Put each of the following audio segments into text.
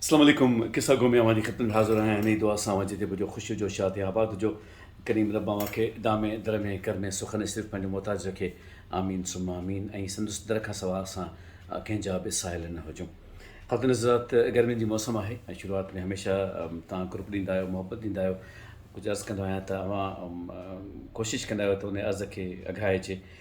السلام عليڪم قصه گو ۾ اوهان جي خدمت ۾ حاضر آهيان انهي دعا سان اوهان جتي به هجو خوشيو جو شاد يا آباد هجو ڪريم رب اوهان کي دامي درمي ڪرمي سخن صرف پنهنجو محتاج رکي آمين ثم آمين ۽ سندس در کان سوا اسان ڪنهن جا به سائل نه هجون خاتون حضرات گرمين جي موسم آهي ۽ شروعات ۾ هميشه تان گروپ ڏيندا آهيو محبت ڏيندا آهيو ڪجهه عرض ڪندو آهيان ته اوهان ڪوشش ڪندا آهيو ته ان عرض کي اگهائجي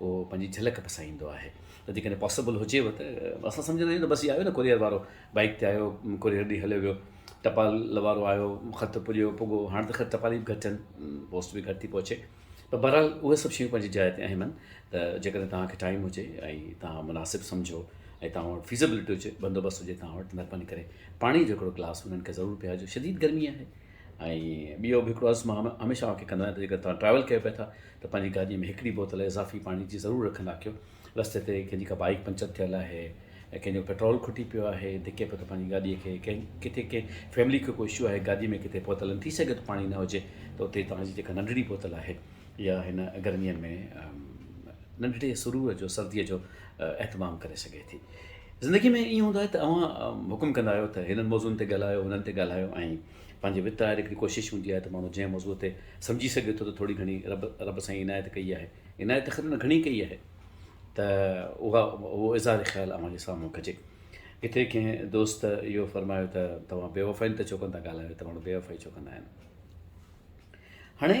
اهو پنهنجي جهلڪ پسائيندو آهي ته جيڪڏهن پاسبل هجيو ته اسان سمجهندا آهيون ته بس هي آيو نه ڪوريئر وارو بائيڪ تي آيو ڪوريئر ڏئي هليو ويو ٽپال وارو آيو خط پڄيو پڳو هاڻ ته خير ٽپالي به گهٽ آهن پوسٽ به گهٽ ٿي پهچي پر بهرحال اهي سڀ شيون پنهنجي جاء تي اهم آهن ته جيڪڏهن توهانکي ٽائيم هجي ۽ توهان مناسب سمجهو ۽ توهان وٽ فيزبلٽي هجي بندوبست هجي توهان وٽ مهرباني ڪري پاڻي جو هڪڙو گلاس انهن کي ضرور پيارجو شديد گرمي آهي ۽ ٻيو به هڪڙو عرض مان هميشه اوهان کي ڪندو آهيان ته جيڪڏهن توهان ٽريول ڪيو پيا ٿا ته پنهنجي گاڏيء ۾ هڪڙي بوتل اضافي پاڻي جي ضرور رکندا ڪيو رستي تي ڪنهن جي ڪا بائيڪ پنچر ٿيل آهي ۽ ڪنهن جو پيٽرول کٽي پيو آهي ڌڪي پيو ته پنهنجي گاڏيء کي ڪنهن ڪٿي ڪنهن فيملي کي ڪو اشو آهي گاڏيء ۾ ڪٿي پهتل آهن ٿي سگهي ٿو پاڻي نه هجي ته اتي توهان جي جيڪا ننڍڙي بوتل آهي اها هن گرميء ۾ ننڍڙي سرور جو سرديء جو اهتمام ڪري سگهي ٿي زندگيء ۾ ائين هوندو آهي ته اوهان حڪم ڪندا آهيو ته هنن موضوعن تي ڳالهايو، هنن تي ڳالهايو ۽ پنهنجي وت آهر هڪڙي ڪوشش هوندي آهي ته ماڻهو جنهن موضوع تي سمجهي سگهي ٿو ته ٿوري گهڻي رب رب سائين عنايت ڪئي آهي، عنايت ته خير ان گهڻي ڪئي آهي ته اها اهو اظهار خيال اوهان جي سامهون ڪجي. ڪٿي ڪنهن دوست اهو فرمايو ته توهان بيوفائين تي چوڪن تان ڳالهايو ته ماڻهو بيوفائي چوڪندا آهن. هاڻي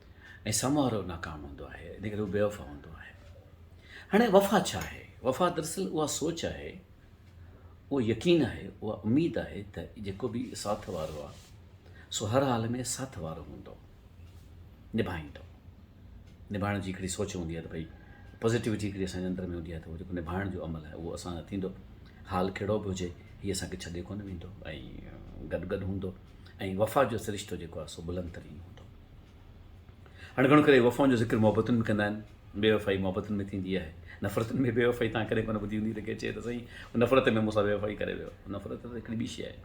۽ سمورو ناڪام هوندو آهي ان ڪري هو بي وفا هوندو آهي هاڻي وفا ڇا آهي وفا دراصل اها سوچ آهي اهو يقين آهي اها اميد آهي ته جيڪو به ساٿ وارو آهي سو هر حال ۾ ساٿ وارو هوندو نڀائيندو نڀائڻ جي هڪڙي سوچ هوندي آهي ته ڀئي پازيٽيوٽي هڪڙي اسان جي اندر ۾ هوندي آهي ته اهو جيڪو نڀائڻ جو عمل آهي اهو اسان سان ٿيندو حال کهڙو به هجي هي اسان کي ڇڏي ڪونه ويندو ۽ گڏ گڏ هوندو ۽ وفا جو سرشتو جيڪو آهي سو بلند ترين هوندو هاڻي گهڻو ڪري وفائن جو ذڪر محبتن ۾ ڪندا آهن، بي وفائي محبتن ۾ ٿيندي آهي، نفرتن ۾ بي وفائي توهان ڪڏهن ڪونه ٻڌي هوندي ته ڪير چئي ته سائين هو نفرت ۾ مون سان بي وفائي ڪري ويو، نفرت ته هڪڙي ٻي شيء آهي.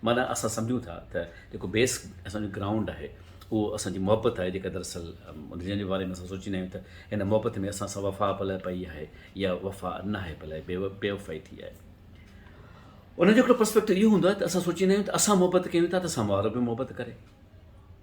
معنيٰ اسان سمجهون ٿا ته جيڪو بيس اسان جو گرائونڊ آهي اهو اسان جي محبت آهي جيڪا دراصل جنهن جي باري ۾ اسان سوچيندا آهيون ته هن محبت ۾ اسان سان وفا پلئه پئي آهي يا وفا ناهي پلئه بي وفائي ٿي آهي. ان جو هڪڙو پرسپيڪٽو اهو هوندو آهي ته اسان سوچيندا آهيون ته اسان محبت ڪيون ٿا ته سامهون وارو به محبت ڪري.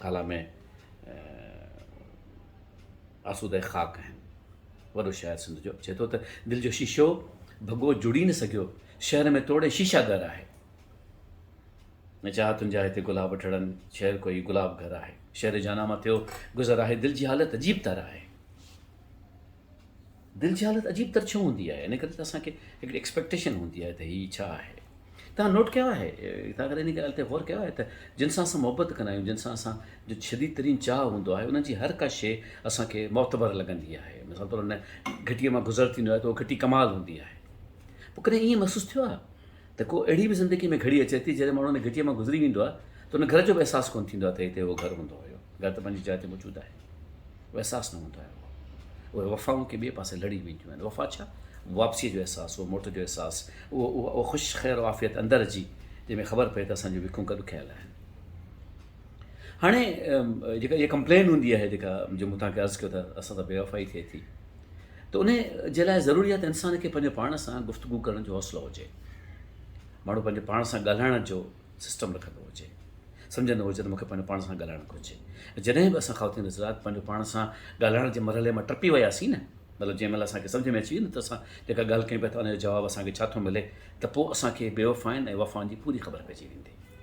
ٿالهه ۾ آسوده خاڪ آهن. وڏو شاعر سنڌ جو چئي ٿو ته دل جو شيشو ڀڳو جڙي نه سگهيو شهر ۾ توڙي شيشا گهر آهي نه چاهه تنهنجا هتي گلاب ٽڙن شهر ڪوئي گلاب گهر آهي شهر جانا مان ٿيو گذر آهي دل جي حالت عجيب تر آهي دل جي حالت عجيب تر ڇو هوندي آهي ان ڪري ته اسان کي هڪڙي ايڪسپيڪٽيشن هوندي آهي ته هي ڇا آهي تان نوٽ ڪيو آهي تان ڪڏهن ان ڳالهه تي غور ڪيو آهي ته جن سان اسان محبت ڪندا آهيون جن سان اسان جو شديد ترين چاهه هوندو آهي انهن جي هر ڪا شيء اسان کي معتبر لڳندي آهي مثال طور ان گهٽيء مان گذر ٿيندو آهي ته اهو گهٽي ڪمال هوندي آهي پوء ڪڏهن ائين محسوس ٿيو آهي ته ڪو اهڙي به زندگي ۾ گهڙي اچي ٿي جڏهن ماڻهو ان گهٽيء مان گذري ويندو آهي ته ان گهر جو به احساس ڪونه ٿيندو آهي ته هتي اهو گهر هوندو هيو. گهر ته پنهنجي جاء تي موجود آهي. اهو احساس نه هوندو آهي. اهو اهي وفائون ڪنهن ٻئي پاسي لڙي وينديون آهن. وفا ڇا؟ واپسيء جو احساس، اهو موٽ جو احساس، اهو اها اها خوش خير و عافيت اندر جي جنهن ۾ خبر پئي ته اسان جون وکون گڏ ڪيل آهن. هاڻي جيڪا اها ڪمپلين هوندي آهي جيڪا جو مون توهان کي عرض ڪيو ته اسان سان بي وفائي ٿئي ٿي. ته ان جي لاء ضروري آهي ته انسان کي پنهنجو پاڻ سان گفتگو ڪرڻ جو حوصلو هجي ماڻهو پنهنجو پاڻ سان ڳالهائڻ جو سسٽم رکندو هجي سمجھندو هجي ته مونکي پنهنجو پاڻ سان ڳالهائڻ گهرجي جڏهن به اسان خواتين حضرات پنهنجو پاڻ سان ڳالهائڻ جي مرحلي مان ٽپي وياسين نه مطلب جنهن مهل اسانکي سمجھ ۾ اچي ويو نه ته اسان جيڪا ڳالهه ڪيون پيا ته ان جو جواب اسانکي ڇا ٿو ملي ته پوء اسانکي بيوفائن ۽ وفائن جي پوري خبر پئجي ويندي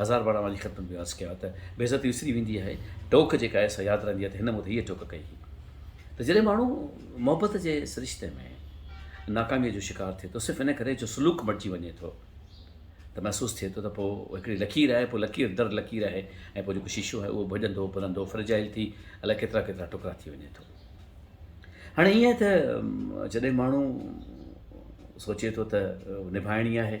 هزار ڀاڙا وانجي خدمت ۾ عرض ڪيو ته بيعزتي وسري ويندي آهي ٽوڪ جيڪا ايسا ياد رهندي آهي ته هن مون تي هيء ٽوڪ ڪئي هئي ته جڏهن ماڻهو محبت جي سرشتي ۾ ناڪاميء جو شڪار ٿئي ٿو صرف ان ڪري جو سلوڪ مٽجي وڃي ٿو ته محسوس ٿئي ٿو ته پوء هڪڙي لڪير آهي پوء لڪير در لڪير آهي ۽ پوء جيڪو شيشو آهي اهو ڀڄندو ڀرندو فرجائل ٿي الائي ڪيترا ڪيترا ٽڪرا ٿي وڃي ٿو هاڻي ائين ته جڏهن ماڻهو سوچي ٿو ته نڀائڻي آهي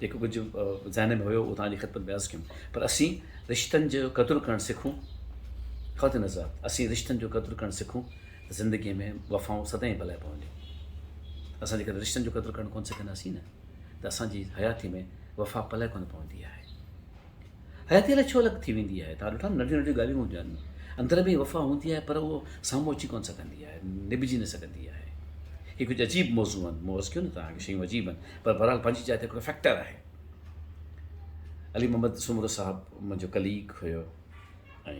جيڪو ڪجهه ذهن ۾ هيو اهو توهان جي خدمت ۾ عرض ڪيم پر اسين رشتن جو قدر ڪرڻ سکون خواتين حضرات اسين رشتن جو قدر ڪرڻ سکون ته زندگي ۾ وفائون سدائين بلائي پونديون اسان جيڪڏهن رشتن جو قدر ڪرڻ ڪون سکنداسين نه ته اسان جي حياتي ۾ وفا پلائي ڪون پوندي آهي حياتي الائي ڇو الڳ ٿي ويندي آهي، توهان ڏٺو آهي ننڍيون ننڍيون ڳالهيون هجن، اندر ۾ وفا هوندي آهي پر اهو سامهون اچي ڪونه سگهندي آهي، نڀجي نه سگهندي آهي. هي ڪجهه عجيب موضوع آهن، مون عرض ڪيو نه توهان کي شيون عجيب آهن پر بهرحال پنهنجي جاء تي هڪڙو فيڪٽر آهي. علي محمد سومرو صاحب منهنجو ڪليگ هيو ۽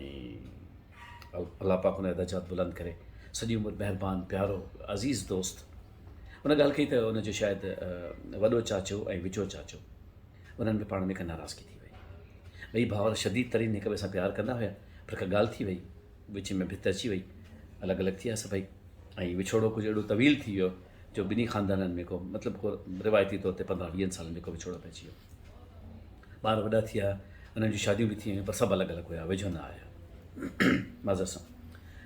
الله پاڪ هن جا درجات بلند ڪري، سڄي عمر مهربان، پيارو، عزيز دوست، ان ڳالهه ڪئي ته ان جو شايد وڏو چاچو ۽ وچو چاچو، انهن ۾ پاڻ ۾ ڪا ناراضگي ٿي وئي. ٻئي ڀائر شديد ترين هڪ ٻئي سان پيار ڪندا هيا، پر ڪا ڳالهه ٿي وئي، وچ ۾ ڀت اچي وئي، الڳ الڳ ٿي ويا سڀئي ۽ وڇوڙو ڪجهه اهڙو طويل ٿي ويو جو ٻنهي خاندانن ۾ ڪو مطلب ڪو روايتي طور تي پندرهن ويهن سالن جو ڪو وڇوڙو پئجي ويو. ٻار وڏا ٿي ويا، انهن جون شاديون به ٿي ويون، پر سڀ الڳ الڳ هيا، ويجهو نه آيا. معذرت سان.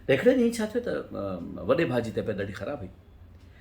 ته هڪڙي ڏينهن ڇا ٿيو ته وڏي ڀاء جي طبيعت ڏاڍي خراب هئي.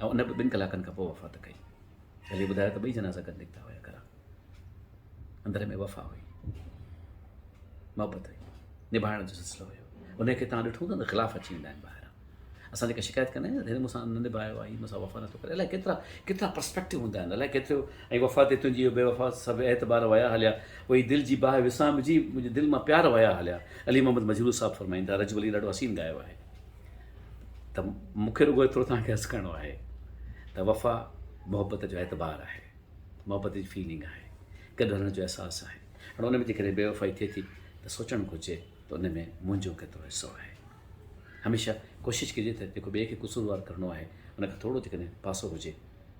۽ ان به ٻن ڪلاڪن کان پوء وفات ڪئي. علي ٻڌايو ته ٻئي جنازا گڏ نڪتا هيا گهران. اندر ۾ وفا هئي، محبت هئي، نڀائڻ جو سلسلو هيو. انهي کي توهان ڏٺو ته خلاف اچي ويندا آهن ٻاهران. اسان جيڪا شڪايت ڪندا آهيون نه هن مونسان نه نڀايو آهي، هي مونسان وفا نٿو ڪري، الائي ڪيترا ڪيترا پرسپيڪٽو هوندا آهن، الائي ڪيتريون ۽ وفا تي تنهنجي اهي بي وفا سڀ اعتبار ويا هليا، اهي دل جي باهه وسامجي منهنجي دل مان پيار ويا هليا. علي محمد مجروح صاحب فرمائين ٿا، رجب علي ڏاڍو حسين ڳايو آهي. ته مون کي رڳو ايترو توهان کي عرض ڪرڻو آهي ته وفا محبت جو اعتبار آهي محبت جي فيلنگ آهي گڏ هلڻ جو احساس آهي هاڻي ان ۾ جيڪڏهن بي وفائي ٿئي ٿي ته سوچڻ گهرجي ته ان ۾ منهنجو ڪيترو حصو آهي هميشه ڪوشش ڪجي ته جيڪو ٻئي کي قصوروار ڪرڻو آهي ان کان ٿورو جيڪڏهن پاسو هجي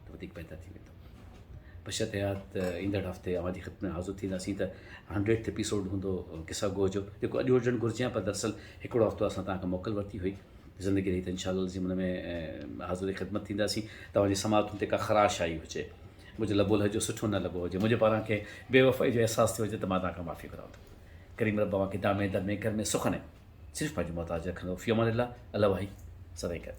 ته وڌيڪ بهتر ٿي ويندو بشرط اها ته ايندڙ هفتي اوهان جي خدمت ۾ حاضر ٿينداسين ته هنڊريڊ ايپيسوڊ هوندو قصا گوء جو جيڪو اڄ هجڻ گهرجي پر دراصل هڪڙو هفتو اسان تان کان موڪل ورتي هئي زندگي رهي ته انشاء الله العظيم ان ۾ حاضر خدمت ٿينداسين توهان جي سماعتن تي ڪا خراش آئي هجي مجھے لبو لهجو سٺو نه لڳو هجي منهنجي پاران ڪنهن بي وفائي جو احساس ٿيو هجي ته مان توهان کان معافي گهران ٿو ڪريم رب اوهان کي دامي در ۾ گهر ۾ سخن ۽ صرف پنهنجي محتاج رکندو فيومان الله الله واهي سدائين ڪري